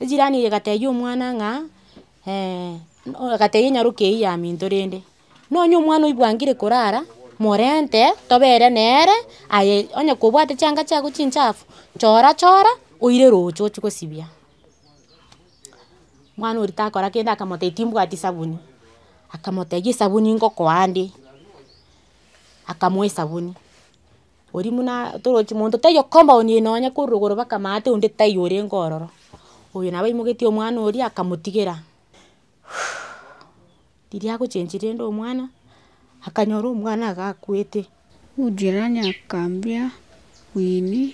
Ejirani eye egatebia omwana ng'a egatebia nyaroke eyio yaminto rende, nonya omwana oyo bwangire korara, morente tobere nere aye onye kobwate chianga chiago chinchafu, chora chora oire roche ochie gosibia. Omwana oria takora kende akamotebia timbwati sabuni, akamotebia esabuni ngokoa ande, akamoa esabuni. Oria buna toroche monto taiyo compound eye nonya korwa igoro mpaka amaate onde taiyo orenge ororo. Oyo nabo aimoketie omwana oria akamotigera riria agochengi rende omwana akanyora omwana iga akwete. Jirani akambia, Winnie.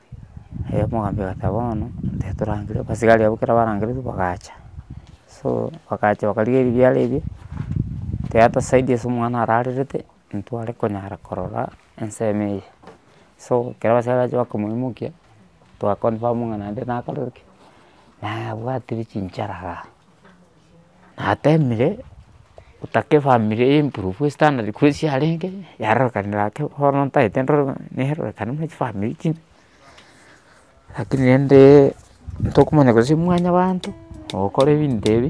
Erio omogambi agoteba bono tari torangire, abasigari abwo ekero barangereire bagacha, so bagacha bakarigia ebiara ebio, tera tosaidia ase omwana ararerete, ntware konyara korora ensemo eye. So ekero abasigari bacha bakomoimokia, twa confirm ng'a naende nakorire ki, nabwatire chinchara igaa. Natemire gotaka efamiri eye improve estandard korwa ase yarenge yarorekanire ake bono ntagete nerorekane buna chifamiri chinde lakini rende ntokomanya gose mwanyabanto ogokora ebinto ebi.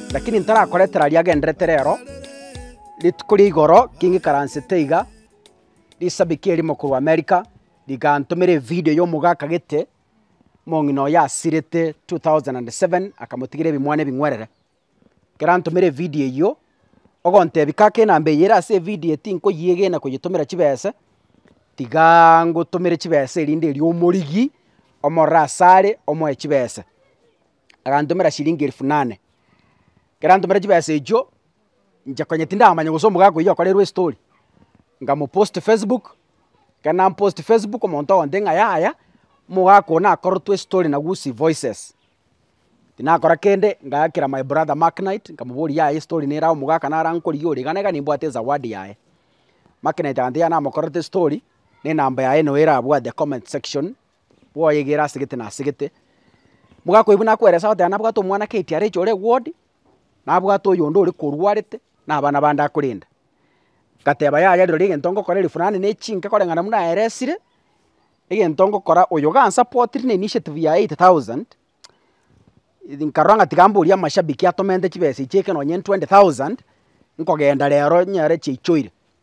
Lakini ntarakoretera riagenderete rero, rituko ria igoro king'ikaransete iga, risabiki erimo korwa America rigantomera evideo y'omogaaka akagete omong'ina oye asirete two thousand and seven akamotigera ebimwana ebing'werere. Ekero antomera evideo eyio, ogontebia kaka enamba eye ere ase evideo tinkoyegena koyetomera chibese, tigaaa ngotomere chibesa erinde erio omorigi omorore asare omoe chibesa. agantomera chiringi elfu nane. Ekero antomera chibesa echio, inche konya tindamanya gose omogaka oyio akoreirwe estori, ngamopost facebook, ekero nampost facebook omonto ogonte ng'a yaya, omogaka oyo nakorortwe estori na gusii voices. Tinakora kende, ngaakera my brother maknight, nkamoboria yaya estori nere aye omogaka nare ankorigia ore iga na iga nimbwate ezawadi yaye. Maknight agantebi yaya namokorete estori, na enamba yaye noo erabwate comment section, bwoyegere ase gete na ase gete. Mogaka oyo buna akweresa goteba nabwate omwana KTRH ore ward, nabwate oyonde ore korwarete, na abana bande akorenda. Ngateba yaya rirorio egento ngokora ere fulani ne chinke koreng'ana buna aeresire, egento ngokora oyo iga ansapotire na initiative ya eight thousand, nkarora ng'a tiga mboria amashabiki atomente chibesa echi eke nonye twenty thousand, nkogenda rero nyore chiaichoire.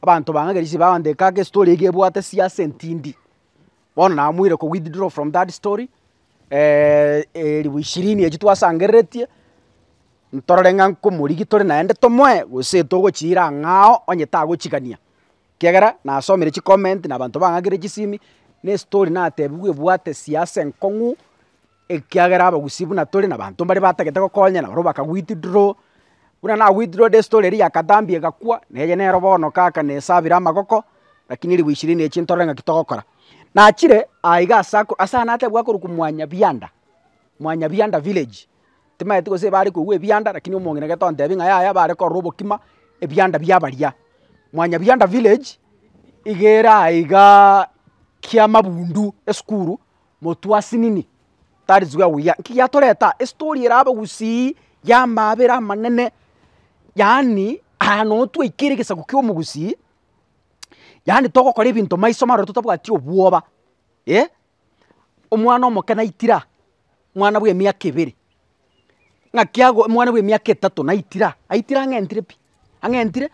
Abanto bang'agerie ase bagoteba ake estory eke ebwate siasa entindi, bono namoire ko withdraw from that story elifu ishirini echio twasangereretie, ntorore ng'a nkomorigia tore naende tomoe gose togochiira ang'aa oo onye tagochigania, ekiagera nasomire chicomment na abanto bang'akire chisimi, na estory natebiwe ebwate siasa enkong'u. ekiagera abagusii buna tore nabanto mbare batagete gokonya nabarabwo baka withdraw, buna na withdrawed estory eria ya katambe egakwa, na eye nero bono kaka na esabire amagoko, rakini ribu ishirini echio ntorore ng'aki togokora. Nachire aiga ase ako ase ayio nateba akorokwa Mwanyabianda, Mwanyabianda village, timaeti gose ebare kogwa ebianda rakini omong'ina gete ontebia ng'a yaya bare korora obokima ebianda bia baria. Mwanyabianda village, iga ere aigaa kiamabundu esukuru, motwasinini tari zuga buya. Nki giatoreta? Estory erabe gusii y'amabera amanene, yaani aya noo twaikire egesaku kia omogusii, yaani togokora ebinto maiso maroo totabwati obwoba eh, omwana omoke naitira, mwana bwa emiaka ebere, ng'aki ago omwana bwa emiaka etato naitira, aitira ang'entire pi, ang'entire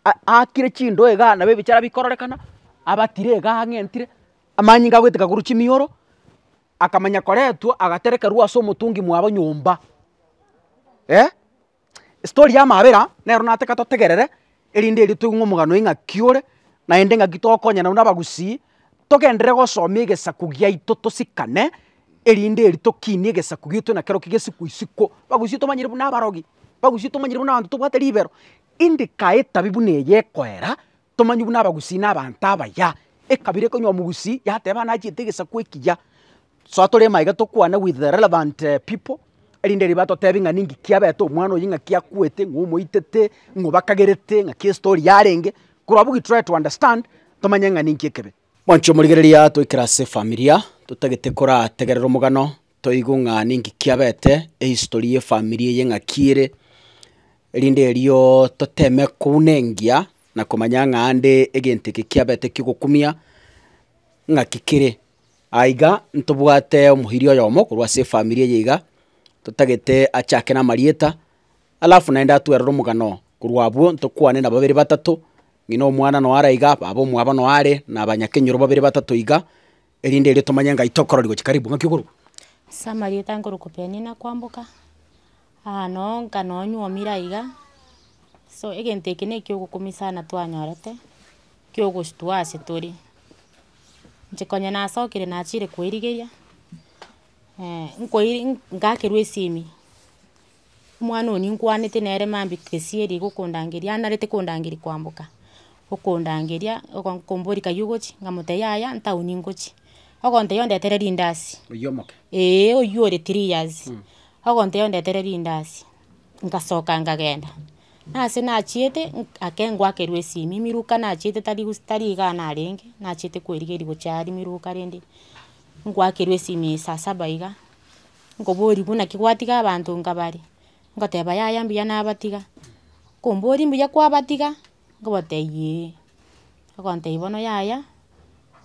a- aakire chindoe igaa nabo ebichara bikororekana, abatire igaa ang'entire. Amanyinga agoiteka korwa chimioro, akamanya koretwa agaterekerwa ase omotungi mwabo nyomba. Eh, story ya mabera nero nataka totegerere, erinde erio toigwe omogano oye ng'aki ore, naende ng'aki tokonya nabo na abagusii, togenderere gosomia egesaku giaito tosikane, erinde erio tokinie egesaku giaito na kero ki gesiko isiko. Abagusii tomanyire buna abarogi, abagusii tomanyire buna abanto tobwate ribero, indikae etabi buna eye ekoera, Tomanywa buna abagusii na abanto abaya. Ekabira ekonywa omogusii yateba buna achiete egesaku ekiya. Soa tore maiga tokwane with the relevant people erinde riba totebi ng'a ninki kiabete omwana oyi ng'aki akwete, ng'o omoitete, ng'o bakagerete, ng'aki estori yarenge, korwabu we try to understand tomanye ng'a ninki ekebe. Mwancho omorigereria atoikera ase efamilia totagete korategerera omogano Toigwe ng'a ninki kiabete, ehistory y'efamiri eye ng'a ki ere, erinde erio toteme kouna engiya na komanya ng'a aande egento eke kiabete ki'ogokumia ng'aki kere. Aiga ntobwate omoiria oyomo korwa ase efamiri eye iga, totagete achake namarieta, alafu naende atwerere omogano korwa abwo ntokwane na babere batato, ng'ina omwana noyo araiga, baba omwabo noyo are, na abanyakenyoro babere batato iga, Erinde erio tomanye ng'ai tokororigwa chikaribu, ng'aki okorwa? Ase amarieta nkorokwa Peninnah kwamboka, aa noo nka noo nywomire aiga, so egento eke na ekiogokumia sana twanyorete, kiogostua ase tore. Inche konya nasokire nachire koirigeria, nkoiri ngakerwa esimi. Omwana oyo ninkwanete nere mambia tesia eria igokondangeria, anarete kondangeria kwamboka, okondangeria ogo- komboria kayia ogochia, nkamotebia yaya ntaoni nkochia, ogontebia ondetere rindazi, Oyio omoke. eeh oyio ore three years, ogontebia ondetere rindazi, ngasoka nkagenda. Nase nachiete, nk- ake ngwakerwa esimi, emiruka nachiete tari gus tari igaa narenge, nachiete koerigeria gochia aria emiruka rende, ngwakerwa esimi saa saba iga. Nkoboria buna ki gwatiga abanto nka bare, ngoteba yaya mbuya nabatiga, nkomboria mbuya kwabatiga, nkobota eyiee, agontebia bono yaya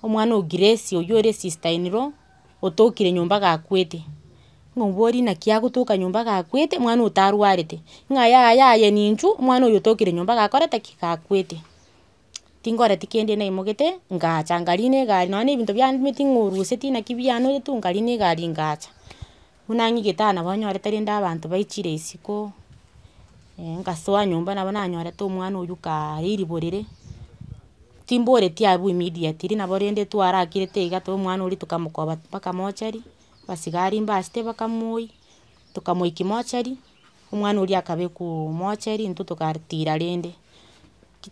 omwana o grace oywo ore sister in law otokire nyomba gakwete, nkomboria naki agotoka nyomba gakwete omwana otarwarete, ng'a yaya aye ninchu omwana oyo otokire nyomba gakorete ki? Gakwete. tingoreti kende naimogete ngacha nkarina egari nonya na ebinto biane nimanyete ng'a orweseti naki bianoeretu nkarina egari ngacha. Buna ng'ige etano nabo nyorete rende abanto baichire isiko, ngasoa nyomba nabo nanyorete omwana oyio kaaye eribo rire, timboreti abwo immediately nabo rende twarakirete iga twa omwana oria tokamokoba mpaka mochari, abasigari mbasete bakamoyia, tokamoiki mochari. omwana oria akabe komocha erinto togatira rende,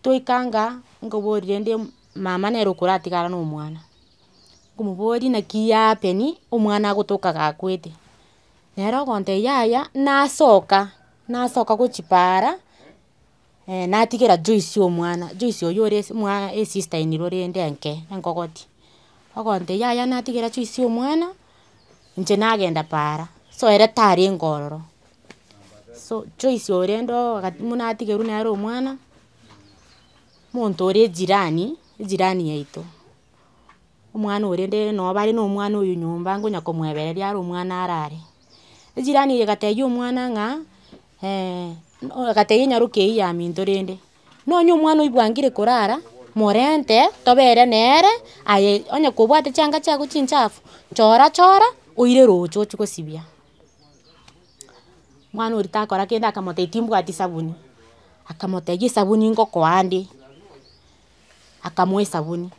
twaikanga nkoborie rende mama nere okoratigara na omwana, nkomoboria naki ya happen omwana agotoka gakwete, nere ogontebia yaya nasoka, nasoka gochia paara. Eeh natigera Joyce omwana, Joyce oyio ore ase mwa esister in law rende enke, enkogoti, ogontebia yaya natigera Joyce omwana, inche nagenda paara, so ere tarenge ororo, so Joyce oyo rende oo agati buna atigerwa nere omwana, omonto ore ejirani, ejirani yaito, omwana oyo rende nabo bare na omwana oyo nyomba, nkonya komoebereria are omwana arare, ejirani eye egatebia omwana ng'a Ee, agatebia nyaroke eyio yaminto rende, nonya omwana oibwangire korara, morente tobe ere nere, aye onye kobwate chianga chiago chinchafu, chora chora oire roche ochie gosibia. Mwana oria takora kende akamotebia timbwati sabuni, akamotebia esabuni ngokoa ande, akamoa esabuni.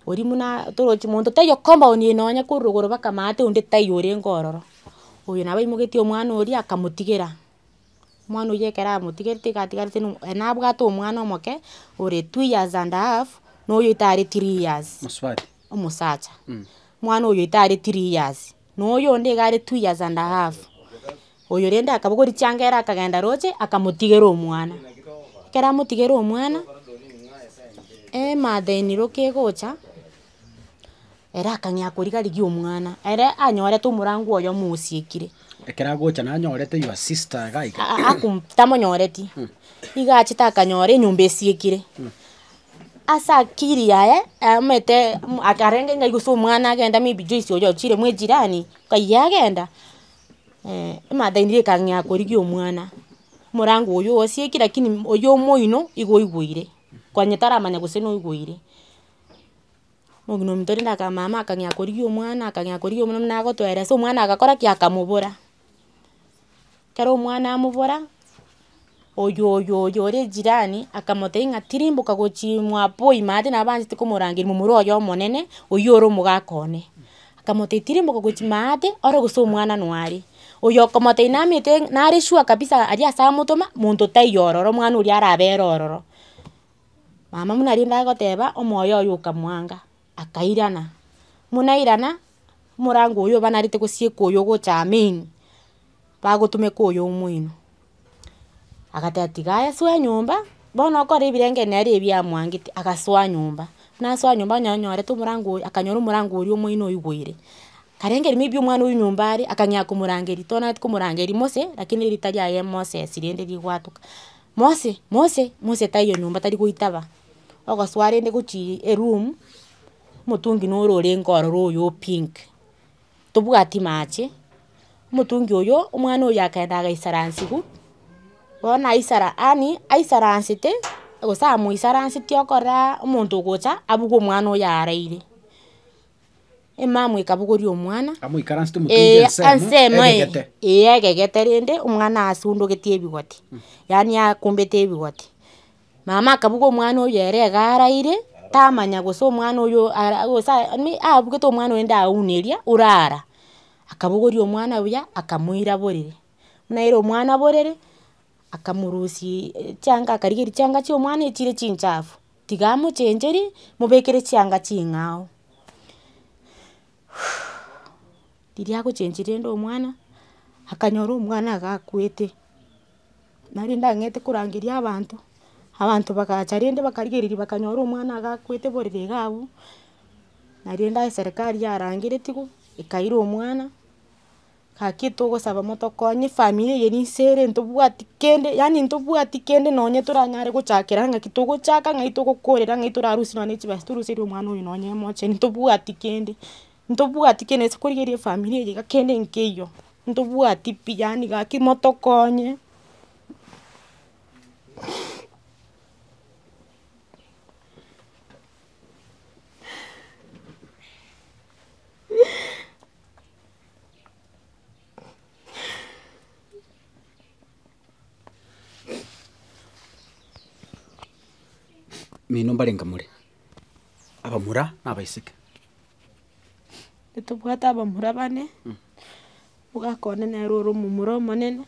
Oria buna toroche monto taiyo compound eye nonya korwa igoro mpaka amaate onde taiyo orenge ororo. Oyo nabo aimoketie omwana oria akamotigera, omwana oyio ekero amotigerete iga atigarete no ere nabwate omwana omoke ore two years and a half na oyo tare three years. Omosacha. Omwana oyo tare three years. na oyonde iga are two years and a half, oyo rende akabogwa richanga ere akagenda roche akamotigera omwana. Ekero amotigere omwana, e- mother in law kegocha, ere akang'ea korigia rigia omwana, ere anyorete omorango oye omosiekire. Ekero agocha nanyorete your sister iga iga. Aa- aa akom tamonyoreti, iga achete akanyora enyomba esiekire, Ase akiri yaye aamanyete akarenge ng'ai gose omwana agenda maybe Joyce oyo ochire mwa ejirani, ng'ai agenda, emother-in law ekang'ea korigia omwana, morango oyio osieki lakini oyio omoino igo oigweire, konya taramanya gose noigweire. Omogina ominto rende aka mama akang'ea korigia omwana akang'ea korigia omwana buna agotwera ase omwana agakora ki? Akamobora. Ekero omwana amobora, oyo oyo oyo ore ejirani akamotebia ng'a tirimboka gochia mwabo ime ase nabo anchete komorangeria momura oye omonene, oyio ore omogaka one. Akamotebia tirimboka gochia ime ate, ore gose omwana no are. Oyo okomotebia namete nare sure kabisa aria ase amotoma, monto taiyo ororo omwana oria arabe ere ororo. Mama buna rende agoteba, omoyo oye okamwanga, akairana, buna airana, omorango oyo oba narete gosieka oyo ogocha main, bagotomeka oyo omoino, agateba tiga aye soa enyomba, bono okore ebirenge nere ebio amwangete, agasoa nyomba, buna asoa nyomba onye onyorete omorango oyo, akanyora omorango oria omoino oigwere, karenge may be omwana oyio nyomba are, akang'ea komorangeria, tonaete komorangeria Mose, lakini rita riaye Moses rende rigwatoka. Mose, Mose, Mose taiyo nyomba tari goitaba, ogosoa rende gochia eroom, omotungi noro orenge ororo oyo o pink, tobwati mache, omotungi oyo, omwana oyo akaenda agaisaransigwa, bono naisara yaani aisaransete, gose amoisaranseti okorora omonto ogocha abuge omwana oyo araire. Emamwe ekabogoria omwana, Amoikaransete omotungi ee ensemo, ase emo eye, egegete. ee egegete rende, omwana asundugeti ebigoti, yaani akombete ebigoti. Mama akabuga omwana oyo ere iga araire, tamanya gose omwana oyo ara gose aa yaani abugete omwana oyo rende aune eria orara, akabogoria omwana buya, akamoira borere. Buna aire omwana borere, akamorusia chianga akarigeria chianga chia omwana echire chinchafu. Tiga amochencheri, mobekere chianga ching'ao. Riria agochenchiri rende omwana, akanyora omwana iga akwete, nari ndang'ete korangeria abanto, abanto bagacha rende bakarigereria bakanyora omwana iga akwete borere iga abwo, nari rende aye serikari yarangeretigwe, ekaira omwana. Gaki togosaba motokonye efamiri eye ninse ere ntobwati kende yaani ntobwati kende nonye toranyare gochakera ng'aki togochaka ng'ai togokorera ng'ai torarusie nonya ne chibesa toruserie omwana oyo nonya emochie ntobwati kende ntobwati kende gose korigereria efamiri eye iga kende nkeiyo ntobwati pi yaani gaki motokonye Mino mbare inga more, abamura na abaiseke. Ntobwate abamura bane, ogakonde nere ore omomura omonene,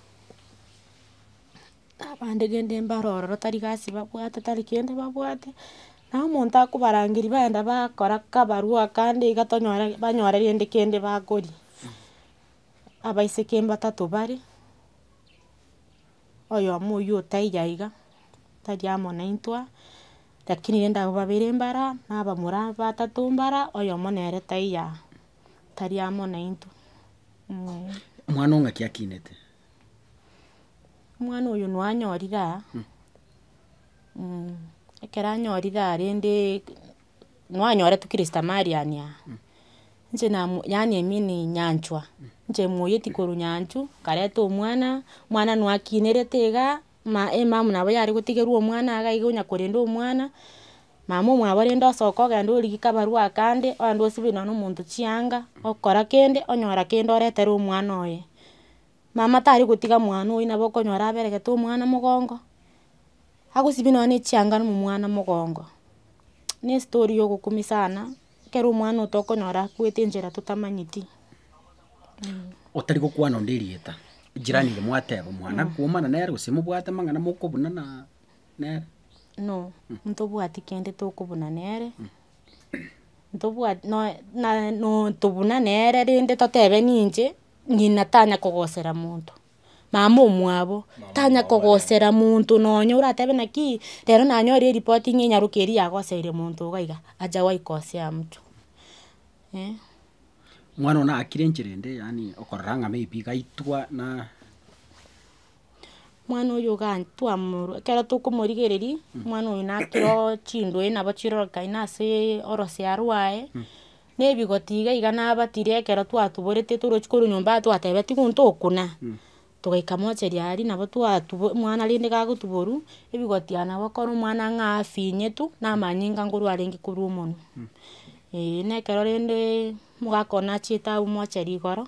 Abande gende mbaro ororo tari gasi babwate tari kende babwate, naye omonto akobarangeria bagenda bakora kabarua akande iga tonyore banyore rende kende bakoria. Abaiseke mbatato bare, oyomo oywo otaiyo iga, tari amo naintwe, lakini rende abwo babere mbara, na abamura batato mbara, oyomo nere taiyo aa, tari amo naintwe, eeh. Omwana o ng'aki akinete, Omwana oyo noo anyorire aa, ekero anyorire aa rende noo anyoretwe kiristamalian aa, inche namu- yaani I mean nyanchwa, inche moyeti korwa nyanchwa, nkareta omwana, omwana noo akinerete igaa. Emama nabo yare gotigerwa omwana iga iga onya korenda omwana, mama omwabo rende osoka ogende origie kabarua akande, ogende osibe nonye na omonto chianga, okora kende, onyora kende oretere omwana oye. Mama tari gotiga mwana oyio nabo okonyora aberegete omwana mogongo, agosibia nonye na echianga na omwana mogongo, ne story ya ogokumia sana. ekero omwana oito okonyora akwete enchera totamanyeti. Otari gokwana onde erieta, jirani ere mwateba omwana akwomana nere gose mobwate amang'ana mokobuna na nere. No, ntobwati kende tokobuna nere, ntobwati nonya na- no tobuna nere rende totebe ninche, ng'ina tanya kogosera monto. mama omwabo tanya kogosera monto nonya oratebe naki rero nanyore eripoti ng'a enyaroka eria yagoseire monto iga iga, acha goikosea mtu eh. Mwana one akire enchera ende yaani okorora ng'a maybe iga aitwa na. Mwana oyo iga twamorwa ekero tokomorigereria, mwana oyo nakire oo chindwori nabo chirorokeire na ase orosiaroo rwaye. Nebigotii iga iga nabatire ekero twatuborete torochia korwa nyomba iga twateba tigu ntokuna, togaika mochari aria nabo twatubo omwana rende gagotuborwa, ebigoti aya nabo okore omwana ng'a afinyetu, na amanyinga nkorwa arenge korwa omonwe. Eeh, na ekero rende omogaka one achiete abwo mochari igoro.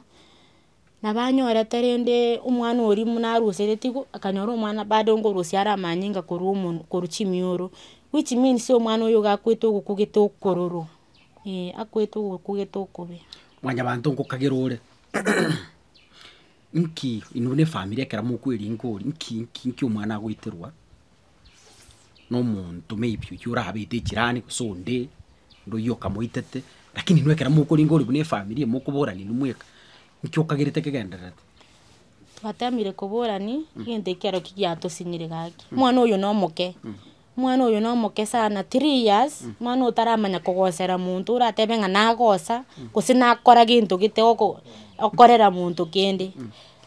nabo anyorete rende omwana oria buna arusereti igo, akanyora omwana bado ngorusia are amanyinga korwa omonwe korwa chimioro, which means omwana oyo iga akwete ogokogete okororo, eh akwete ogokogete okobe. Mwanyabanto ngokagera ore, nki, ino buna efamiri ekero mokweringa oria, nki nki nki omwana agoeterwa. na omonto maybe oyio orabete echirani gose onde, onde oyio okamoitete, lakini inwe ekero mokoringa ore buna efamiri eye mokoborani inwe mweka, nki okagerete kegendererete? Twatemire koborani egento ekio ero ki giatosinyire gaki. Omwana oyo na omoke, omwana oyo na omoke sana, three years, omwana otaramanya kogosera monto, oratebe ng'a nagosa, gose nakora gento gete oko okorera monto kende.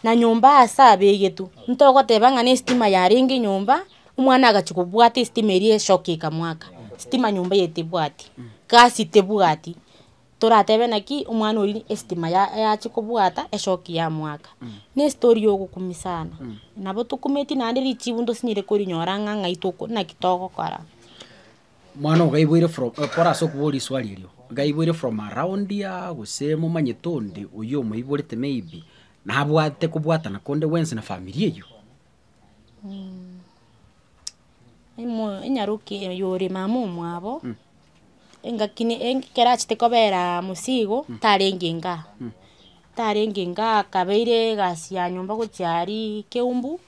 na nyomba aase abeegetwe, ntogoteba ng'a nesitima yarenge nyomba, omwana agachia kobwata esitima eria esoki ekamwaka, sitima nyomba eye tebwati, gasi tebwati, toratebe naki omwana oria esitima ya- yachia kobwata esoki yamwaka. Na estori ya ogokumia sana, nabo tokumeti naende richibu ntosinyire korinyora ng'a ng'ai toko naki togokora. Mwana oo gaiboire from kore ase okobua risuali erio, gaiboire from around aa gose momanyete onde oyio omoiborete maybe nabwate kobwatana konde gwensi na familia eyio. Imo- inyaroki oyore mama omwabo, engaki ne eng ekero achete koberaa mosii igo, tarenge inga aa, tarenge inga aa akabeire egasi ya nyomba gochia aria keumbu,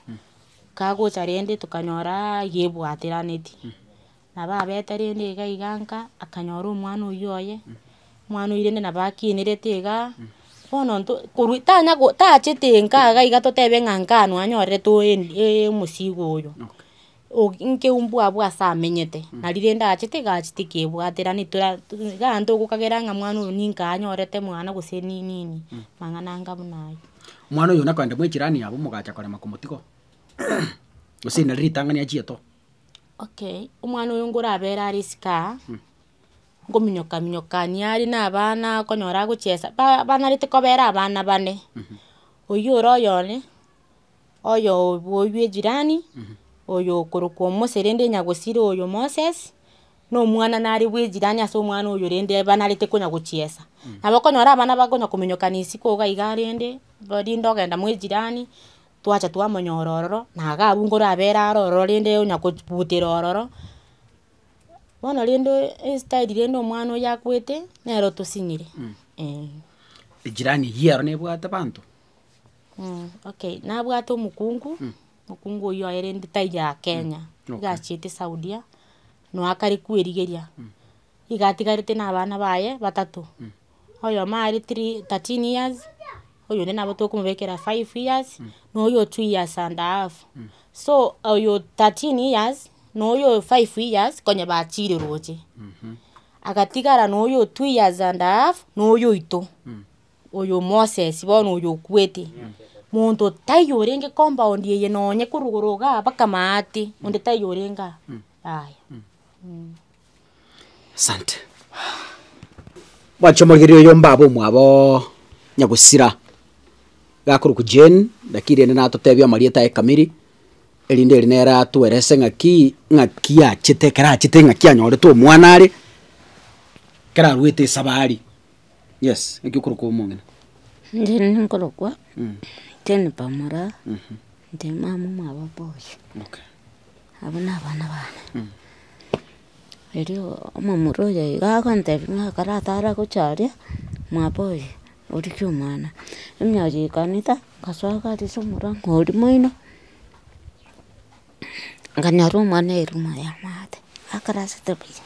Kagocha rende tokanyora yebwateranetie, nabo abete rende iga iga nka, akanyora omwana oywo oye, omwana oywo rende nabo akenerete iga, bono nto korwa tanya go tachete nka iga iga totebe ng'a nka noo anyorete oen- e- omosigo oyo, oki nki mbwa abwo ase amenyete, nari rende achete iga achete kebwaterani tora to iga aye ntogokagera ng'a mwana oyo ninka anyorete mwana gose ni nini, mang'ana anga buna ayio. Omwana oyo nakorende mwechirani yabo mogacha korema komotiga gose nari ritang'ani achiete oo. Okay, omwana oyo nkorabere are esike aa, nkominyoka minyokania are na abana okonyora agochesa, ba- banarete kobera abana bane, oyio ore oyone, oyobu oyio bwe ejirani, oyo okorokwa omoseri rende nyagusiri oyo moses, Nomwana nare bwe ejirani ase omwana oyo rende banarete konya gochiesa. Nabo okonyora abana bakonya kominyokana isiko iga iga rende, rinde ogenda mwa ejirani, twacha twamonyora ororo, na iga abwo nkorabere are ororo rende onya kobutera ororo. Bono rende estyle rende omwana oyio akwete, nere otosinyire eh. Ejirani eyio ero nebwate abanto? Mh, okay. Nabwate omokungu. Mokungu oyio aerenti taiyo aa Kenya, iga achiete Saudia, noe akare kwerigeria, iga atigarete na abana baye batato, oyomo are three thirteen years, oyonde nabo tokomobekera five years, na oyo two years and a half, so oyo thirteen years na oyo five years konya bachire roche, agatigara na oyo two years and a half na oyo oito. Oyo Moses bono oyo okwete, monto taiyo orenge compound eye nonye korogoro iga mpaka maate, onde taiyo orenge aa, yaya. Asante. Mwanche omorigereria oyo mbabe omwaboo Nyagusira, gakorokwa Jane, naki rende natotebie amarieta aye kamiri, erinde eri nere atuerese ng'aki ng'aki achete ekero achete ng'aki anyorete omwana are, ekero aruete esabari. Yes, ekio okorokwa omong'ina. Inche rende nkorokwa, Jane Bamura, nde mama omwabo boys, Okay. abwo na abana bane. Erio omomura oyo iga agontebi ng'a ekero atare gocha aria, mwabo oye origie omwana. Emioyo ekaneta, ngasoa gari ase omorango oria moino, nganyora omwana airwa moyo amaate, akarasete buya.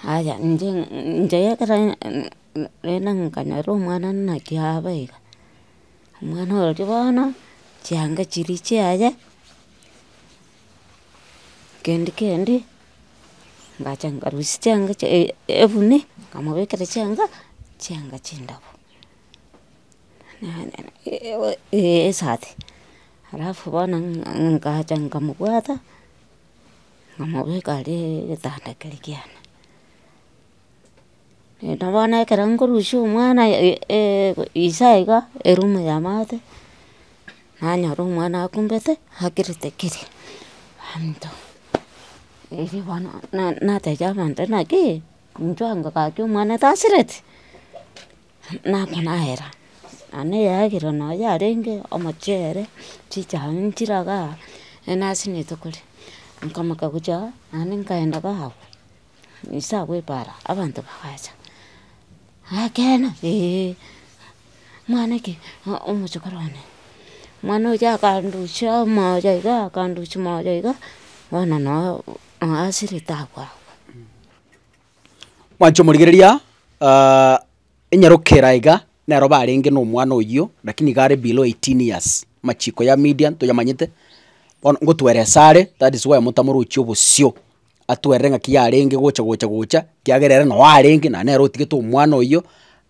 Aye inche inche ekero rende nkanyora omwana naki abe iga, omwana oria bono chianga chiria chiaye kendi kendi ngacha nkarusia chianga chia ebuni nkamobekera chianga chianga chindabu esati alafu bono nkacha nkamobwata. namobeka aria egetanda keria kiane. Naende bono ekero nkorusia omwana ise iga erumu ya maate, nanyora omwana akumbete akirete keri abanto. Erio bono nateebia abanto naki inchuo ango gaki omwana tasireti. nakonaera, na neyagera nonya yarenge omochere, chichae nchiraga, enasinete kore, nkamoka gocha naende nkaenda bago, nise agwo epara abanto bagacha, akena eeh, mwana ki o- omochokoro one, mwana oyo akandusia amaoyo iga akandusia amaoyo iga, bono noo asirete agwo agwo. Mwancha omorigereria enyarokera iga nero barenge na omwana oyio lakini iga are below eighteen years, amachiko ya media ntoyamanyete, bono ngotwera esare that is why motamora ochia obosio, atwerire ng'aki yarenge gocha gocha gocha ekiagera ere noo arenge na nere otigete omwana oyio.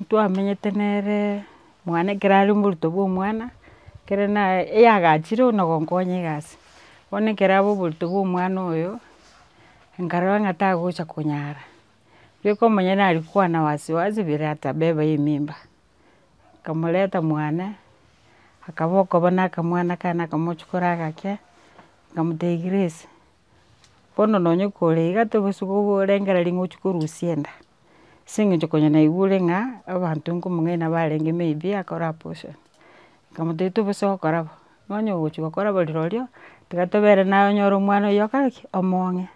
ntwamenyete nere mwane ekero are omoruto bwa omwana, ekero naye eyagachire buna ogonkonya egasi, bono ekero abe oborito bwa omwana oyo, nkarora ng'a tagocha konyara, riria okomanya nari kwana wasi wasi bire atabeba emimba, nkamoreta mwane, akaba okoba nakamwana kane akamochikora agake, nkamotebia grace. bono nonya okore iga tobosie korengereria ng'a ochie korusia enda, ase eng'encho konya naigure ng'a abanto nkomong'ina barenge may be akore abortion, nkamotebia tobosie gokora bo, nonya ogochia gokora bo rirorio, tiga tobera naye onye ore omwana oyio okore ki? Omong'e,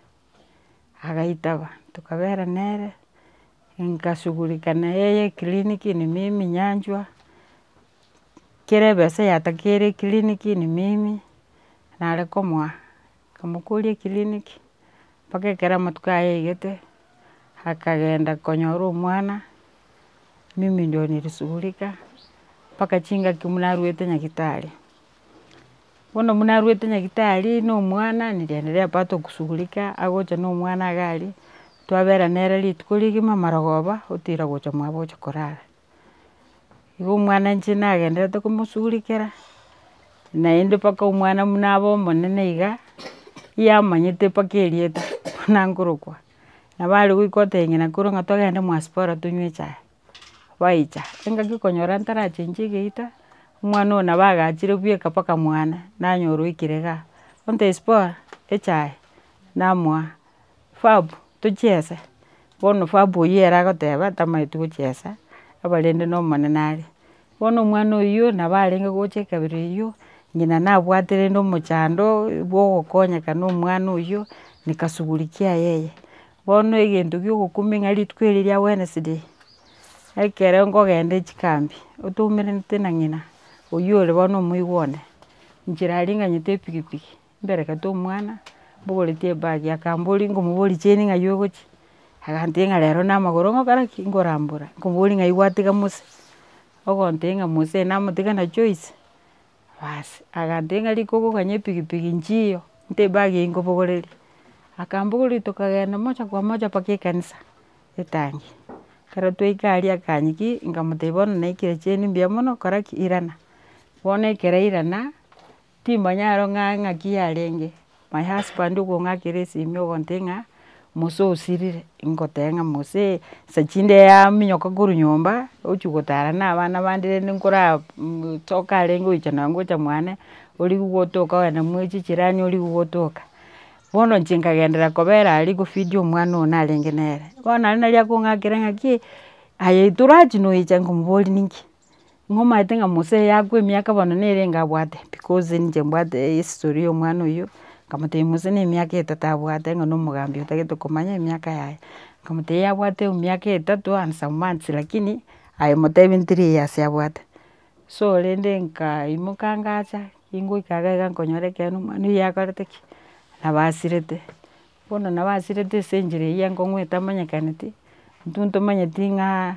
agaitaba, tokabera nere, nkasugurika neyeye eclinic neme emenyanchwa. kerebe ase eyatakeire eclinic ni mimi, nare komoa, nkamokoria eclinic, mpaka ekero amatuko ayaigete, akagenda konyora omwana, mimi ndio nilishughulika, mpaka chingaki buna arwete nyagitari, bono buna arwete nyagitari na omwana, niliendelea bado kushughulika, agocha na omwana iga aria, twabera nere rituko rigima marogoba, otira gocha mwabo oche korara. Igo omwana inche nagenderete komosurikera, naende mpaka omwana buna abe omonene iga, yamanyete mpaka erieta buna nkorokwa, nabo are goika oteng'ena korwa ng'a togende mwasipora tonywe echae, baicha, engaki okonyora ntarachenchie egeita, omwana oyo nabo agachire bweka mpaka mwane, nanyora oikire igaa, onto esipora, echae, namoa. Fab tochiese, bono fab oyio ere agoteba tamaeti gochiesa, aba rende na omonene are. Bono omwana oyio nabo arenge gocha ekabira eyio, ng'ina nabwate rende omochando bwa ogokonyeka na omwana oyio, nikasugulikia yeye. Bono egento kia ogokumia ng'a rituko erio ria wednesday, ekero nkogenda chikambi, otoumerente na ng'ina, oyio ore bono omoigwa one, nchera aringanyete epikipiki. Mbere kata omwana, mbogoretie ebagi akamboria nkomoboria chain ng'ai ogochia, agantebia ng'a rero namagoro ngokora ki? Nkorambora, nkomoboria ng'ai gwatiga Musa? Ogontebia ng'a Musa oyo namotiga na Joyce, basi agantebia ng'a rika ogokanye epigipigi nchiyo, nte ebagi eyio nkobogoreria, akambogoreria tokagenda moja kwa moja mpaka ekanisa, etangi, ekero twaika aria akanyia ki? Nkamotebia bono naikire chain mbuya mono kora ki? Irana, bono ekero airana, Timanya ero ng'a ng'aki yarenge. My husband okong'akera esimi ogontee ng'a mose osirire, ngoteba ng'a mose nsa chinde yaminyoka korwa nyomba ochia gotara na abana bande rende nkora toka arenge oicha na gocha mwane origia gotoka ogenda mwa echi chirani origia gotoka. Bono inche nkagenderera kobera aria kofidi omwana oyo narenge nere. Bono naende nari akong'akera ng'aki aye torachi noecha nkomoboria ninki. Inwe omaete ng'a Mose yakwa emiaka bono nere enga abwate, because ninche mbwate history ya omwana oyio, nkamotebia Mose na emiaka etato abwate ng'a na omogambi otagete komanya emiaka yaye, nkamotebia yabwate emiaka etato and some months lakini aye motebie three years abwate. So rende nkaimoka ngacha, ingoika iga iga nkonyora ekeene omwana oyio yakorete ki? Nabasirete, bono nabasirete ase enchera eyio enkong'u etamanyekaneti, intwe ntomanyeti ng'a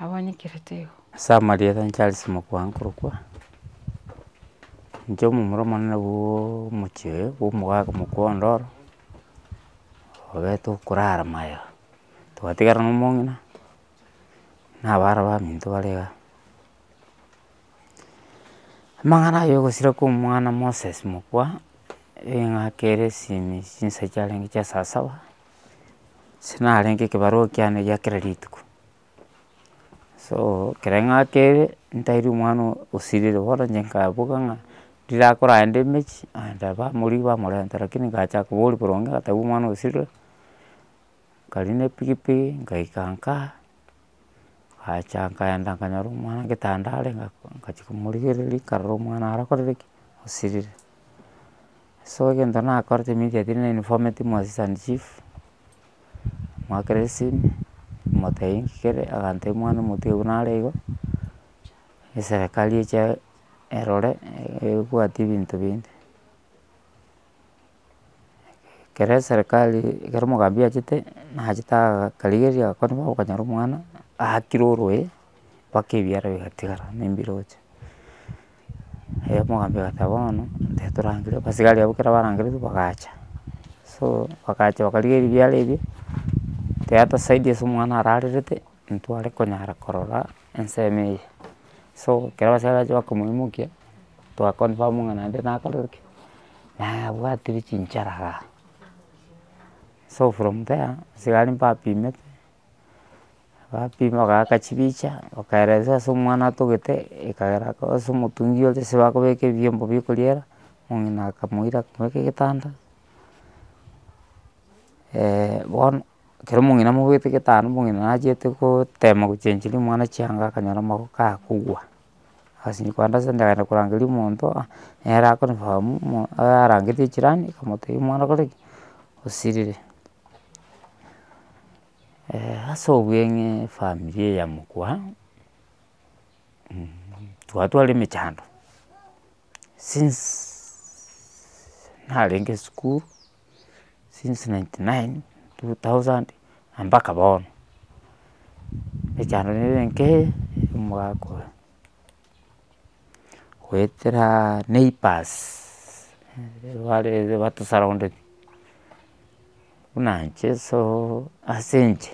abanyekerete igo. Ase amarieta ne Charles Mokwaa nkorokwa, inche omomura omonene bwaaaa omochie oyo bwa omogaka Mokwaa ondoro, obweete okorara magega, twatigara na omong'ina, na abana baminto bare igaa. Amang'ana aye ogosira kwa omwana Moses Mokwaa, eng'aka ere esimi chinsa chiarenge chia saa saba. ase narenge ekebarua kiane gia kera rituko, so ekero ng'akere ntaire omwana oo osirire bono inche nkaboka ng'a rirakora aende emechie aende bamorigia bamorenta rakini ngacha koboria boronge ng'a taibo omwana osirire, nkaria na epikipiki ngaika nkaa, ngacha nkaenda nkanyora omwana getanda are ngachia komorigereria nkarora omwana arakorere ki? Osirire. So egento nakorete immediately na inform'ete mwasisi and chief, mwakera esimi, motebia inki kere, agantebia omwana omotiga nare iga, eserekari eche erore ebwate ebinto binde. Ekero eserekari ekero omogambi achete, nachete akarigereria agakora buna okonyora omwana aakire orwoe, mpaka ebiara bigatigara na embiroche. Erio omogambi agoteba bono tari torangire, abasigari abwo ekero barangereire bagacha, so bagacha bakarigia ebiara ebio, tera tosaidi ase omwana ararerete, ntware konyara korora ensemo eye. So ekero abasigari bacha bakomoimokia, toa confirm ng'a naende nakorire ki, nabwatire chinchara igaa. So from there, abasigari mbapimete. bapima bagaka chibicha bakaeresa ase omwana atogete ekagera akoba ase omotungi ore ase bakobeka ebiombo bia okoriera, omong'ina akamoira akamobeka egetanda bono ekero omong'ina amobwete egetanda omong'ina nachete gotema gochencheri omwana chianga akanyora magoko kagokwa. Ase nkoenda ase ndagera korangeria omonto aa, nere akonifamu mo arangetie echirani akamotebia omwana okore ki, osirire. ase obweng'e efamiri eye ya mokura, twatwara emechando since narenge esukuru. since ninety nine, two thousand mpaka bono, echando nere enke omogaka oyo, goetera neighbours barire batosurrounded, buna inche so ase inche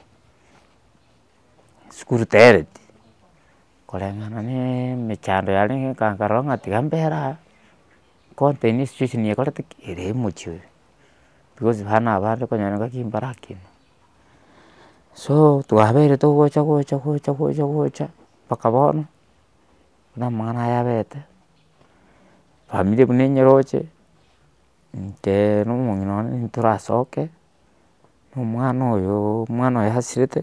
esukuru tereti, koreng'ana na emechando yarenge nkarora ng'a tiga mbera aa. contain situation ekorete ki, ere emochie oyo, because buna abande okonyora ngaki mbarakinwa, so twabere togocha gocha gocha gocha gocha mpaka bono, buna amang'ana aya abete, famiri buna enyeroche, intee na omong'ina one ntorasoke, omwana oyooo omwana oyo asirete.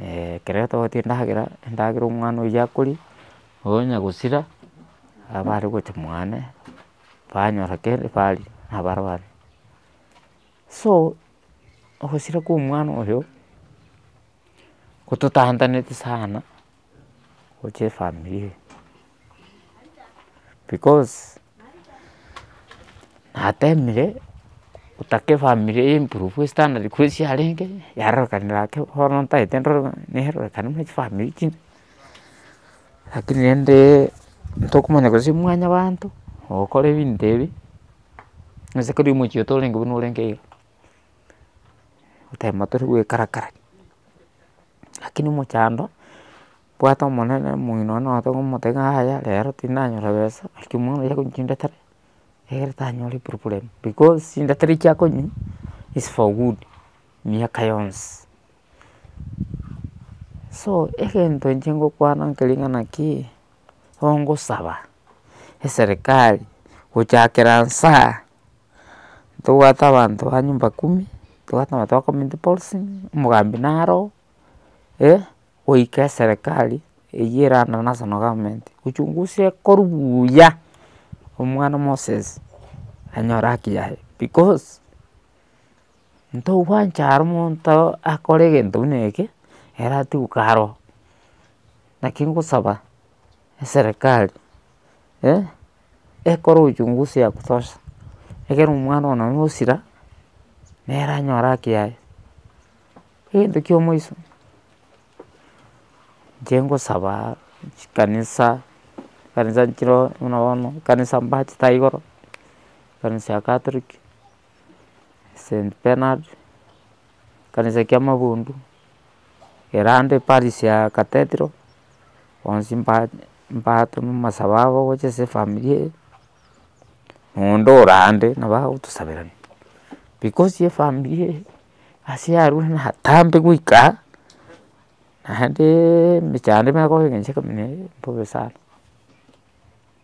ekero togotebi endagera, endagera omwana oyio akoria, onya gosira, aba are gocha mwane, banyora kende baria nabare baria. So ogosira kwa omwana oyo, gototantaneti sana. gocha efamiri eye, because natemire gotaka efamiri eye emprove estandard korwa ase yarenge yarorekana gaki bono ntagete ndore ng'a nerorekane buna chifamiri chinde, lakini rende tokomanya korwa ase mwanyabanto ogokora ebinto ebi onye keri omochie oyo torenge buna orenge iga, otagete tore goikarakara. Lakini omochando bwate omonene omogeni one naye otomoteba ng'a yaya rero tindanyora besa lakini omwana oyo akonye chindatere egere tanyore problem because chindatere echio akonywa is for good miaka yonsi. So egento inche ngokwana nkeri ng'a naki ongosaba eserikari gochakera nsaa. tobwate abanto ba nyumba kumi, tobwate abanto ba community policing, omogambi naro eh, goika eserekari eywo erana national government gochungusa ekoru buuya, omwana moses anyore haki yaye, because ntogwancha aro omonto akore egento buna eke ere atigwe karo, naki ngosaba eserekari eh. ekore uchungusi ya kutosha, ekero omwana one na osira, nere anyore haki yaye. Egento kia omoiso, inche ngosaba chikanisa, chikanisa chire buna bono, ekanisa mbachete aiga igoro, ekanisa ya catholic. St Bernard, ekanisa kia mabundu, erande parish ya cathedral, bonsi mba- mbatoma amasabo abo gocha ase efamiri eye, na onde ore ande nabo agotosaberania, because efamiri eye ase yarurire natambe goika aa, naendeeee emechando nigo egocha kominyoka mbobe sana.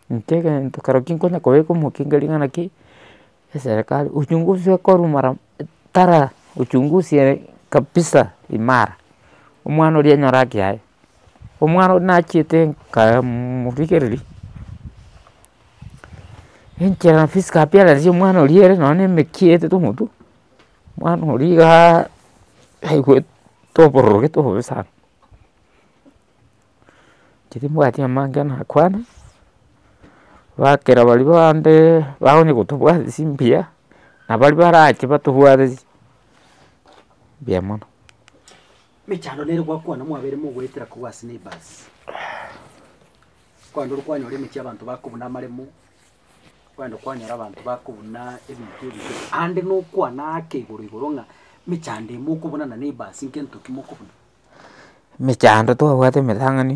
Intwe egento kero ki nkonya kobeka omokinga ring'ana ki eserekari ochungusie ekoru mara tara ochungusie kabisa imara omwana oria enyore haki yaye omwana oria nachiete nkaa morigereria enchera physical appearance ya omwana oria ere nonya nemekiete tomotwe omwana oria igaa aigwete obororo gete obobe sana. timbwati amange nakwane bakera baria bande bakonye kotobwatia chimbuya na baria barache batobwate mbuya mono. emechando twabwate emetang'ani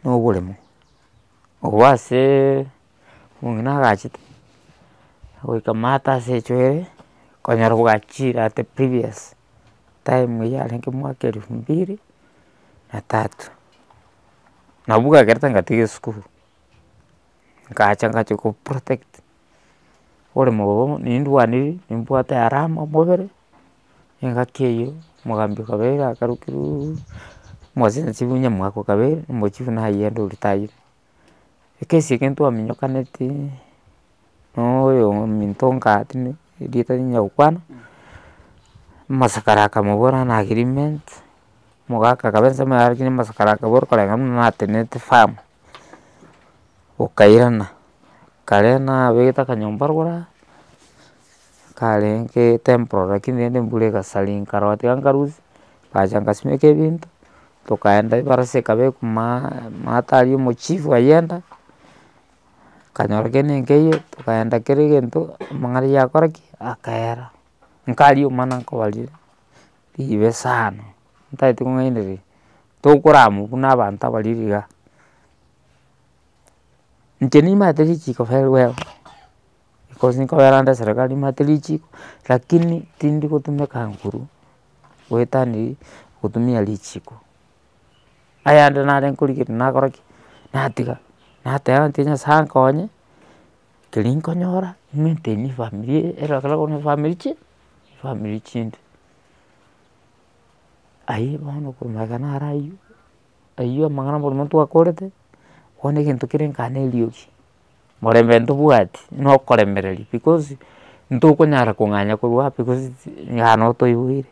na oboremo, agwo asee omong'ina agachete goika maate ase echoere okonyora bwachire at the previous time eye yarenge omwaka elfu mbili na tatu, nabo bwakerete ngatiga esukuru, nkacha nkachi ko protect oboremo obo nindwanirie nimbwate harama mobere. Engaki eyio omogambi okabeire akarukiruuuu omosensi buna omwaka okabeire omochie buna aye ande oritayire. Ekesi eke ntwaminyokaneti na oyo ominto nka tindi erieta tinya gokwana, omosakara akamobora ng'a na agreement, omogaka akabe ensemo yaye lakini omosakara akabora okarenge buna natenenete farm, okairana, kare nabegete akanyomba rogoro aa. karenge temporary lakini rende embura egasari nkarora tiga nkarusia, ngacha ngasimeka ebinto, tokaenda ebarasa ekaba ekumaaaa maata aria omochifu aye enda, nkanyora kende nkeiyo, tokaenda kera egento amang'ana yakora ki? Akaera. Nkaria omana nkobaria ribe sana, ntagete kong'ainereria, tokoramwa buna abanto abaria riga, inche nimanyete richiko feru ero. Because nkobera nde eserekari nimanyete richiko, lakini tindi gotumeka nguru goetania gotumia richiko, ayande nare nkorigereria nakora ki, natiga, nateba ng'aki nyasae ankonye, keri nkonyora maintain efamiri eye, ero ekero okobuna efamiri chii efamiri chinde, ayio bono okomanya ekero nare aywo. aywo amang'ana bono twakorete, bono egento kere nkaa na eriogi, morembe ntobwati na okoremereria because ntokonyara kong'anya korwa ape because nkaa na otoiboire,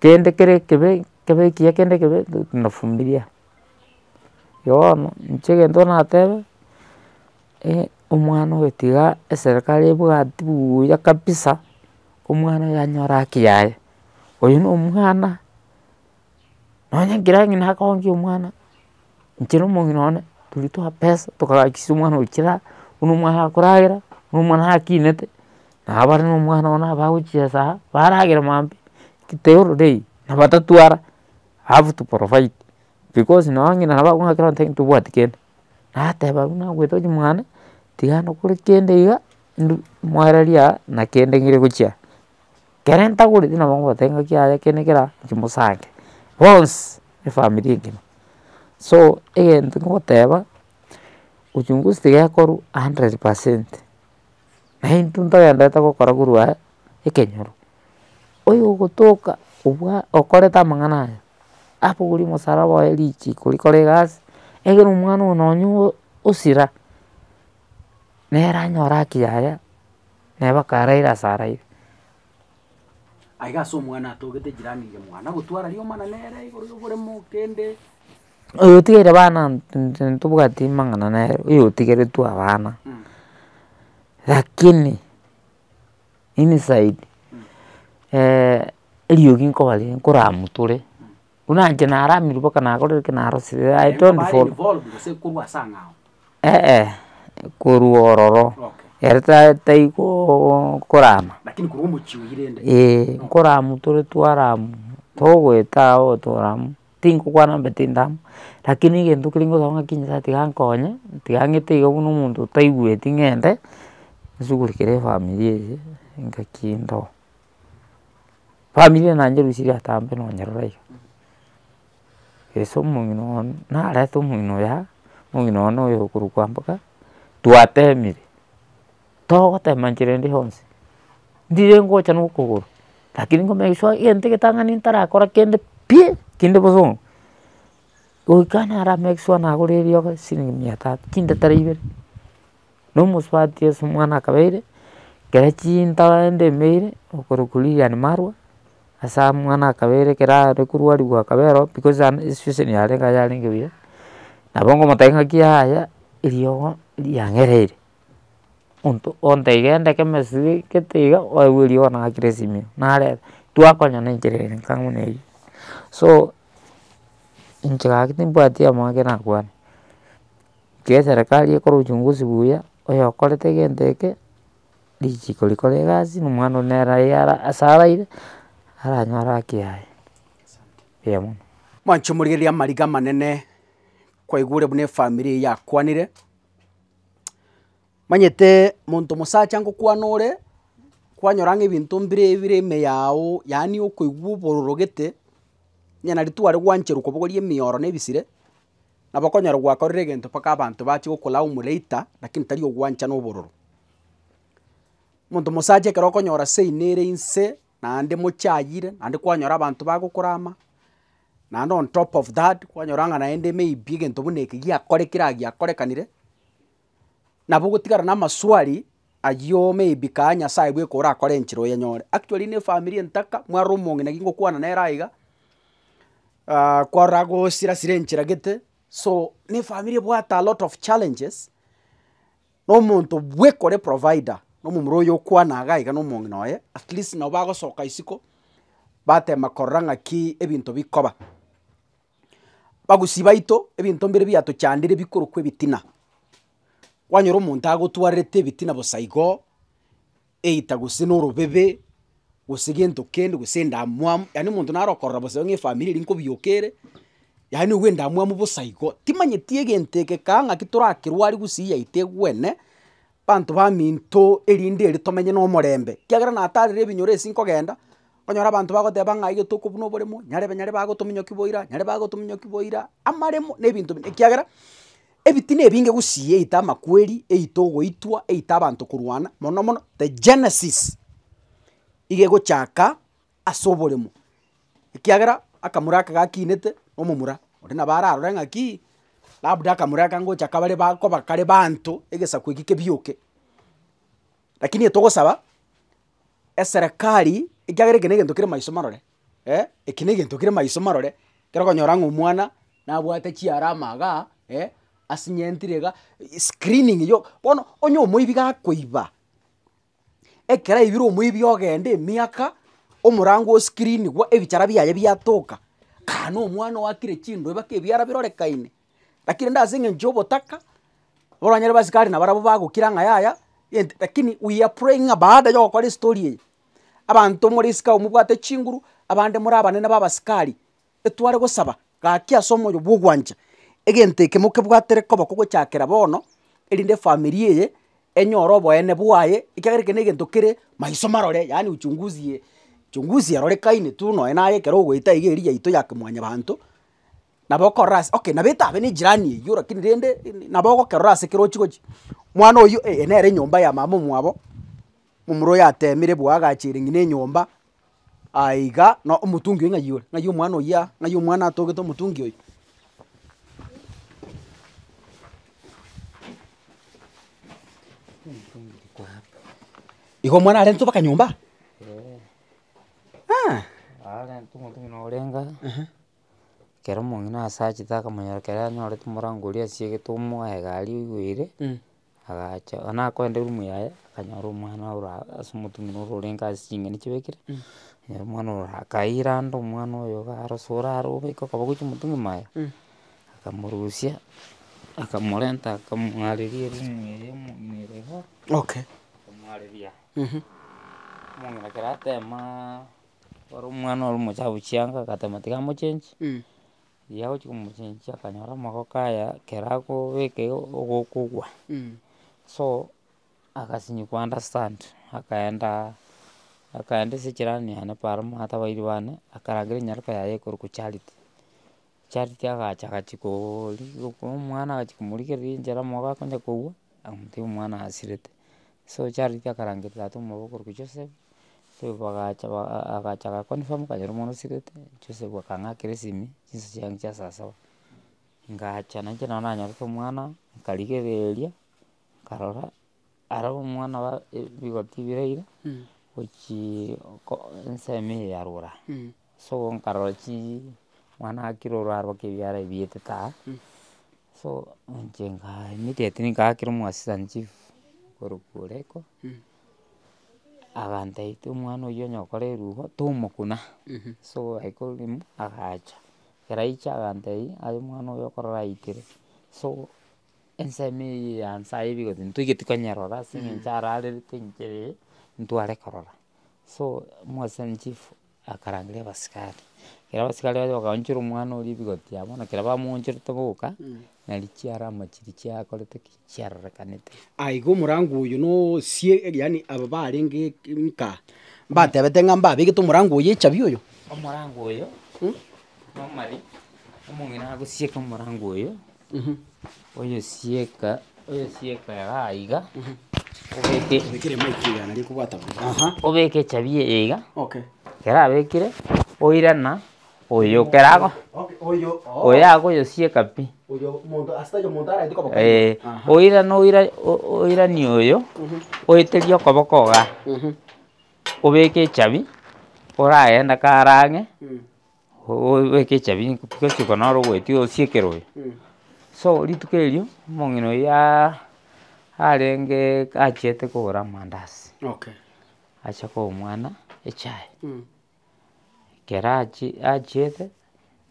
kende kere ekebe kebe ekiya kende ekebe tunafumilia. Igo bono inche egento natebe, omwana oyo tiga eserekari ebwati buuya kabisa, omwana oyo anyore haki yaye, oyo nomwana. Nonya nkere ang'e nakoonge omwana, inche na omong'ina one toria toa pesa tokagachisia omwana oyo chiraa, buna omwana akoragera, buna omwana akinete, nabo bare na omwana one nabo bagochiesaa aa, baragere maambia eketae ororo eye, na batatwara have to provide because nonye onye ng'ina nabo akong'akera gose ontebi tobwati kende, nateba buna ngoeta gochia mwane, tigana okore kende iga, mwareria aa na kende ngire gochia aa. Kere ntagoreti nabo ngobatebia ng'aki yaaye eke na eke eraa inche mosange, bonsi efamiri engima. So egento nkogoteba, uchunguzi tigekorwa hundred percent, na intwe ntogenderete gokora korwa aya ekenyoro, oyogotoka obwa okorete amang'ana aya, abogori omosaraba oye richiko rikore egasi, egere omwana oyo nonye osira, nere anyore haki yaye. naye bakaraire ase araire. Aiga ase omwana atogete jirani ria mwana gotwara rioma na nere igoro y'oboremo kende. Oyo otigeire bana intwe ntobwati mang'ana nere oyo otigeretwe abana lakini inside eriogi nkobaria nkoramotore. Buna inche naramirwe mpaka nagorire eke narosirie I don't follow. Eeh korwa ororo ere ta taigoo korama. Eeh nkoramu tore twaramu togoeta agwo toramu tinkokwana mbe tindamu lakini egento keria ngosaba ng'aki Nyasaye tiga ankonye tiga ang'ete iga buna omonto otaigweti ng'ende nsugurikere efamiri eye engaki ndoo. family eye nanye rusia riatambe nonyerora iga, ase omong'ina one narete omong'ina oyo aa, omong'ina one oyo okorokwa mboka, twatemire, togotema enchera ende yonsi, ndire ngocha na okogoro, rakini nko make sure egento egetang'ani ntarakora kende pi, kende bosongo, goika nara make sure nagorire riogo siringi mia tatu chintatera ibere. Na omosubati Yeso omwana akabeire, ekero chintaba ende emeire, okorokwa Lilian Marwa, ase mwana akabeire ekero are korwarigwa akabera oo because ande situation yarenge aye yarenge buya, nabo ngomotebia ng'aki yaya eriogo riang'ereire, monto onto egenda keme esubee gete iga oegwe eriogo nagakire esimero narebe twakonyora enchera ere nka buna eywo. So inche gaki timbwati amaabera akwane. Iga eserekari ekore uchunguzi buya, oyokorete egento eke, richiko rikore egasi, na omwana oyio nere aye ara ase araire, aranyore haki yaye, eeh mono. Mwanche morigereria amariga amanene kwaigure buna efamiri eye yakwanire, manyete monto mosacha ngokwana ore, kwanyora ng'a ebinto mbire bire ime yago, yaani okoigwa obororo gete, onye na ritwe aria gwancherwa kobogoria emioro na ebisire, Nabo okonyora gwakorire egento mpaka abanto bachie gokolaa omoreita, lakini tari ogwancha na obororo. Omonto omosacha ekero okonyora seino ere inse, naende mochayire, naende kwanyora abanto bagokorama, naende on top of that, kwanyora ng'a naende maybe egento buna eke giakorekire aiga giakorekanire. nabo ogotigara namaswali ayio maybe kaa Nyasaye bweka orakore enchera oyanyore. Actually na efamiri entaka, mware omong'ina ki ngokwana nere aiga, kwarora gosira sira enchera gete, so na efamiri ebwate alot of challenges, na omonto bweka ore provider, na omomura oyo okwana iga iga na omong'ina oye, at least nabo bagosoka isiko, batema korora ng'aki ebinto bikoba. Bagusii baito ebinto mbire biatochandire bikorokwa ebitina. Kwanyora omonto agotwarerete ebitina bosa igo, either gose na orobebe, gose gento kende gose endamwamu, yaani omonto naro okorora bosa iga ng'a efamiri eri nkobioka ere, yaani owe endamwamu bosa igo, timanyeti egento eke kang'aki torakerwari gusii yaito egwene. banto baminto erinde ere tomenye na omorembe, ekiagera natarire ebinyoro ase nkogenda, okonyora abanto bagoteba ng'a aye tokobua na oboremo, nyarebe nyare bagotominyoki boira, nyare bagotominyoki boira, amaremo na ebinto binde ekiagera, ebitina ebinge gusii eite amakweri, eite ogoitwa, eite abanto korwana, mono mono the genesis iga egochaka. as'oboremo, ekiagera akamura aka gakinete na omomura onde nabo ararore ng'aki, labda akamura aka ngocha kabare ba koba kare baanto, egesaku eki kebioke. Lakini etogosaba, eserekari, ekiagera eke negento kere maiso marore, eh, eke negento kere maiso marore, ekero okonyora ng'a omwana nabwate chiarama igaa, eh, asinyentire iga, screening yo, bono onye omoibi gakoiba. ekero aibire omoibi ogenda emiaka, omorango oscreenigwa ebichara biaye biatoka, kaa nomwana oakire chindwe mpaka ebiara birorekaine. Rakini rende ase eng'encho yobotaka, oranyare basikari nabarabwo bagokira ng'a yaya egento rakini we are praying ng'a baada yogokora estory eye, abanto more isiko abwo mobwate chinguru, abande more abanene ba abasikari, etware gosaba gaki ase omoyo bw'ogwancha, egento eke mokebwatere koba kogochakera bono, erinde efamiri eye enyore oboene bwaye, ekiagera eke negento kere maiso marore, yaani uchunguzi ye chunguzi erorekaine tu nonya naye ekero ogoeta iga eria yaito ya kimwanyabanto, nabo okorora ase okay nabo etabe ne ejirani eywo rakini rende nabo ogokerora ase ekero ochi gochia, mwana oyio eh, nere enyomba ya mama omwabo. omorwoi yatemire bwa agachire ng'ina enyomba, aye iga na omotungi oyo ng'ai ore, ng'ai omwana oyia, ng'ai omwana atogete omotungi oyo. Igo omwana arentwe mpaka nyomba? Aah. ehe. Ekero omong'ina ase achete akamonyora ekero anyorete omorango oria asiegete omoa egari oigwere. Agacha oo nakoenda erumu yaye, akanyora omwana ora ase omotumia ore orenge ase ching'eni chibekire, akanyora omwana ore akaira ande omwana oyo iga arosora are oboike okaba ogochia omotumia maye, akamorusia, akamorenta akamong'areria erumu eye yomong'ina iga, akamong'areria omong'ina ekero atemaa ore omwana ore omochafu chianga agatema tiga amochengi, Riria agochia komochinjia akanyora amagoko aya ekero akobeka igo ogokogwa, so agasinyikwa understand akaenda akaenda ase echirani yane para omanyete abairi bane, akarangera enyaroka yaye ekorokwa charity. Charity agacha agachia kooori omwana agachia komorigereria enchera amagoko akonye kogwa, akamotebia omwana asirete. So charity akarangeria tata omwabo okorokwa Joseph, Joseph bagacha ba a- a agacha aga confirm akanyora omwana osirete, Joseph akang'akera esimi, chinsa chiane chia saa saba, ngacha nainche nabo nanyorete omwana, nkarigereria, nkarora ara omwana ba e- bigoti biraire, gochii ko ensemo eye yarurire aa. So nkarora chii mwana akire orware mpaka ebiara ebi bietete aa, so inche nkaa immediate ngakera omo assistant chief korokwa oreko, agantebitia omwana oywo onye okore erubo, tomokuna, so I called him agacha, ekero aiche agantebi aye omwana oyo okorora aitere, so ensemo eye ya nsaye iga egoteba ntoigeti konyerora ase eng'encho ararerete inche ee, ntware korora. So omo assistant chief. Akarangeria abasikari, ekero abasikari bachia bakaonchora omwana oria ebigoti yabo, bono ekero bamoonchorete boka, nari chiara amache ri chiakorete ki? Chiarorekanete. Aa igo omorango oyo na osie yaani aba barenge nkaa, mbatebete ng'a mbabegete omorango oyo echabi oyo. Omorango oyo, normally, omong'ina agosieka omorango oyo. oyesieka oyesieka igaa iga, obeke obeke echabi eye iga, ekero abekire, oirana oyo kerago oyo agoyosieka pi eh, oirana oira o- o oiranie oyo, oeterie okoboko igaa, obeke echabi, oragende kare ang'e, obeke echabi gochika noro ogoetia osiekere oyo. So rituko erio omong'ina oyio aaaa arenge achiete kogora amandazi, acha koa omwana echae, ekero achi achiete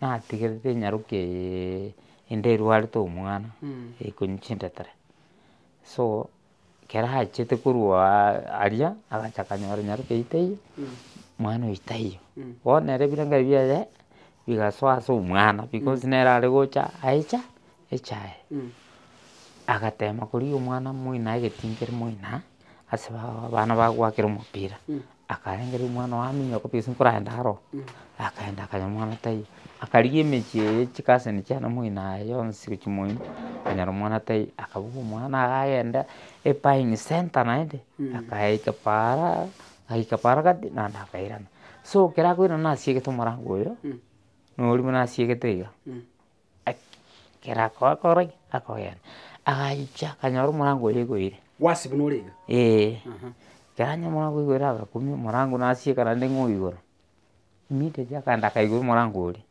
natigerete enyarokeeee ende erwarete omwana ekonye chintetere so. Ekero achete korwa aria, agacha akanyora nyaroka eyio taiyo, mwana oyio taiyo. Bono ere ebirengererio biaye bigasoa ase omwana, because nere are gocha aicha echaye. Agatema korigia omwana moino aye egetingiri moino ase abana bagoakera omopira. Akarengeria omwana oye aminyo kobua ase nkoraenda aro, akaenda akanya omwana taiyo, akarigia emechie eye chikaseni chiane moino aye yonsi gochia moino, akanyora omwana taiyo, akabugia omwana iga agenda ebuying centre naende, akayeika paara, ayeika paara gati naende akairana. So ekero akoirana nasiegete omorango oyo, nonya oria buna asiegete iga. Ekero akoakora ki? Akogenda, agacha akanyora omorango oria oigwire. Gwasi buna ore iga? Ee. Aha. Ekero anyorire omorango oigwire agakumia omorango nasieka naende ng'o igoro, immediately akaenda akaigura omorango oria,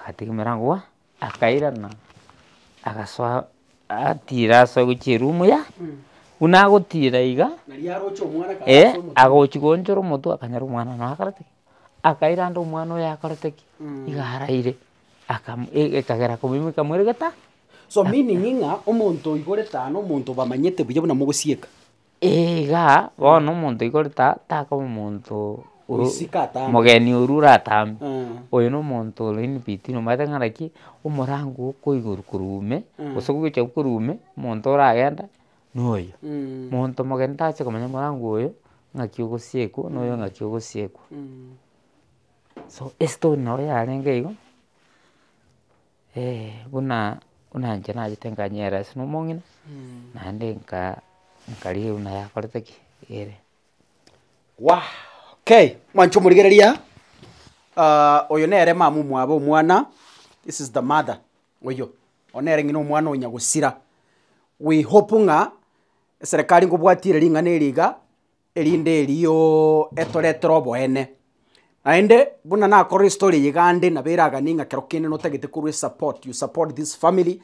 agatega emerango waa, akairana, agasoa atira ase ogochia erumu yaye, buna agotira iga, Nari aroche omwana kare ee, ase omotienyi. agochi koonchora omotwe akanyora omwana noyo akareti ki? Akairanda omwana oyo akareti ki? Iga araire. akam e- ekagera komoimokia moira geta. So meaning ng'a omonto oigorete aa na omonto obamanyete buya buna mogosieka. Eeh igaa, bono omonto oigorete aa takoba omonto o- Oisike atambe. mogeni orwa oratambe, Eeh. oyo na omonto ore in between omanyete ng'a naki, omorango okoigorwa korwa ime, Eeh. gose ogocha korwa ime, omonto oragenda na oyo. Monto omogeni tache komanya morango oyo ng'aki ogosiekwa, na oyo ng'aki ogosiekwa. So estory nabo yarenge igo, buna buna inche nachete nkanyara ase na omong'ina, naende nka nkarigia buna yakorete ki ere. Mwancha omorigereria, oyo nere mama omwabo omwana, this is the mother oyio, oyo nere ng'ina omwana oyo nyagosira, we hope ng'a eserekari nkobwatia ere ring'ana eri iga, erinde erio etoretere oboene. Naende buna nakorire story eye iga ande nabo eraganie ng'a kero kende notagete korwa esupport, you support this family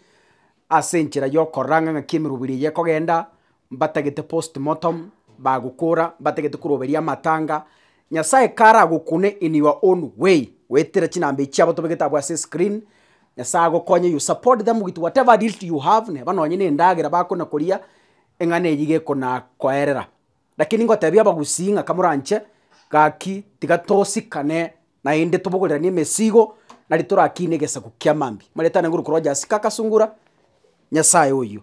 ase enchera yokorora ng'a ng'aki emerogo ere eye ekogenda, mbatagete postmortem, bagokora, mbatagete koroberia amatanga, Nyasaye kare agokune in your own way, goetera chinamba echi chiabo tobegete abwo ase escreen, Nyasaye agokonye you support them with whatever little you have, neba nonye na endagera bakona koria, eng'ana eyio iga ekonakoerera. Rakini ngotebia abagusii ng'a kamoranche gaki tiga tosikane naende tobogoriranie emesigo nari torakine egesaku kia mambia. Amareta ane ngorwa korwa Jasika Kasungura, Nyasaye oyio.